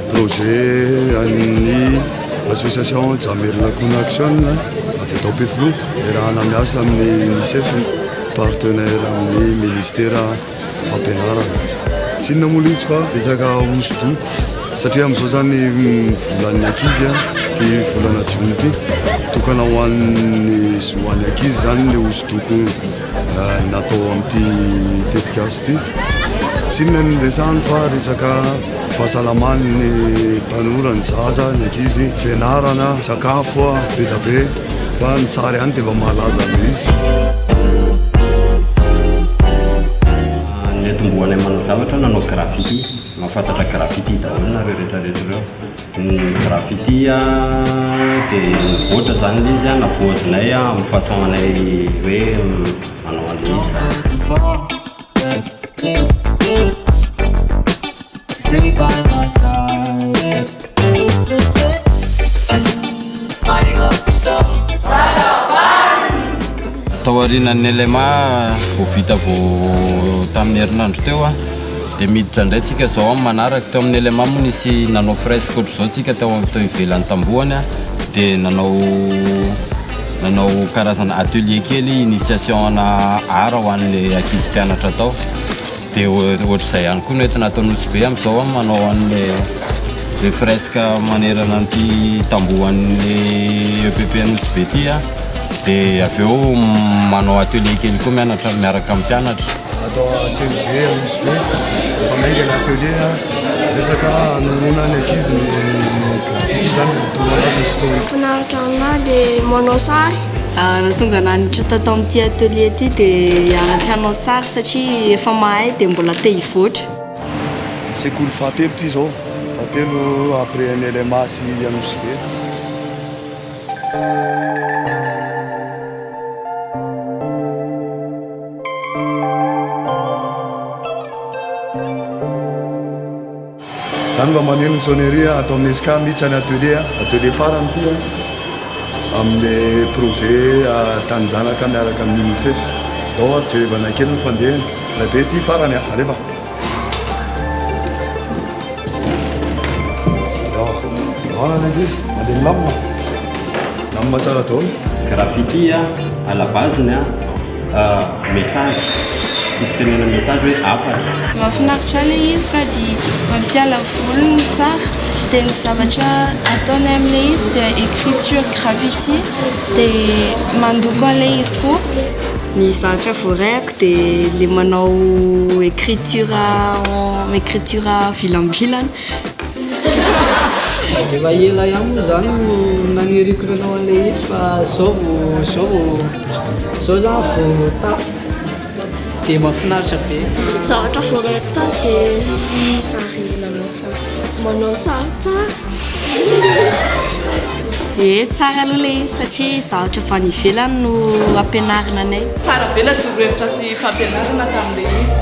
Projet an'ny association Jamerina Kuna Action avy eto Ampefiloha iarahana miasa amin'ny UNICEF partenaire amin'ny ministera fampianarana. Tsy inona moa ilay izy fa resaka hosodoko satria amin'izao izany volan'ny ankizy dia volana jona ity tokana ho an'ny zo an'ny ankizy izany ilay hosodoko natao amin'ity tetikasa ity. Tsy inona ny resahany fa resaka Fahasalaman'ny tanora, ny zaza, ny ankizy, fianarana, sakafo, be da be fa ny sary ihany dia efa mahalaza an'ilay izy. Niantombohanay manao zavatra aho nanao graffiti. Mahafantatra graffiti daholo nareo retraretra ireo. Ny graffiti dia nivoatra izany ilay izy, navoazinay amin'ny façon anay hoe manao an'ilay izy izany. Tao aorianan'ny LMA vao vita vao tamin'ny herinandro teo a dia miditra indray tsika izao amin'ny manaraka. Teo amin'ny LMA moa nisy nanao fresque ohatr'izao tsika tao tao ivelan'ny tambohany a dia nanao Nanao karazana atelier kely initiation ana art ho an'le ankizy mpianatra tao. De ohatr'izay ihany koa no entina atao Nosy Be am'zao an, manao an'le le fresque manerana an'ity tamboho an'ny EPP Nosy Be ty an. De avy eo manao atelier kely koa mianatra miaraka amin'ny mpianatra. Atao CEG Anosy Be, efa maika ny atelier a, resaka anoroana ny ankizy ny graffiti izany no tonga anazy ny story. Finaritra aminahy dia manao sary. Raha tonga nanitra tato amin'ity atelier ity dia hianatra hanao sary satria efa mahay dia mbola te hivoatra. Sekoly fahatelo ity izao, fahatelo après an'i LMA sy Anosy Be. Zany mba maneno ny sonnerie ato amin'ny esca mihitsy any atelier atelier farany ity amin'ny projet taninjanaka miaraka amin'ny unicef dao jerevana kely ny fandehany rabe ity farany alefa Graffiti a, à la base-ny a, message, fototenenana message hoe hafatra. Mahafinaritra ilay izy sady mampiala voly ny tsara dia ny zavatra ataonay amin'ilay izy dia écriture graffiti dia mandoko an'ilay izy koa ny zavatra voaray. dia ilay manao écriture en écriture vilambilana. Efa ela ihany moa zany no naniriko nanao an'ilay izy fa zao vao zao vao zao zany vao tafo dia mahafinaritra be. Zavatra vao rehetra dia sary nanao. Manao sary tsara. Ee tsara aloha ilay izy satria zavatra avy any ivelany no ampianarina anay. Tsara be ilay torohevitra sy fampianarana tamin'ilay izy.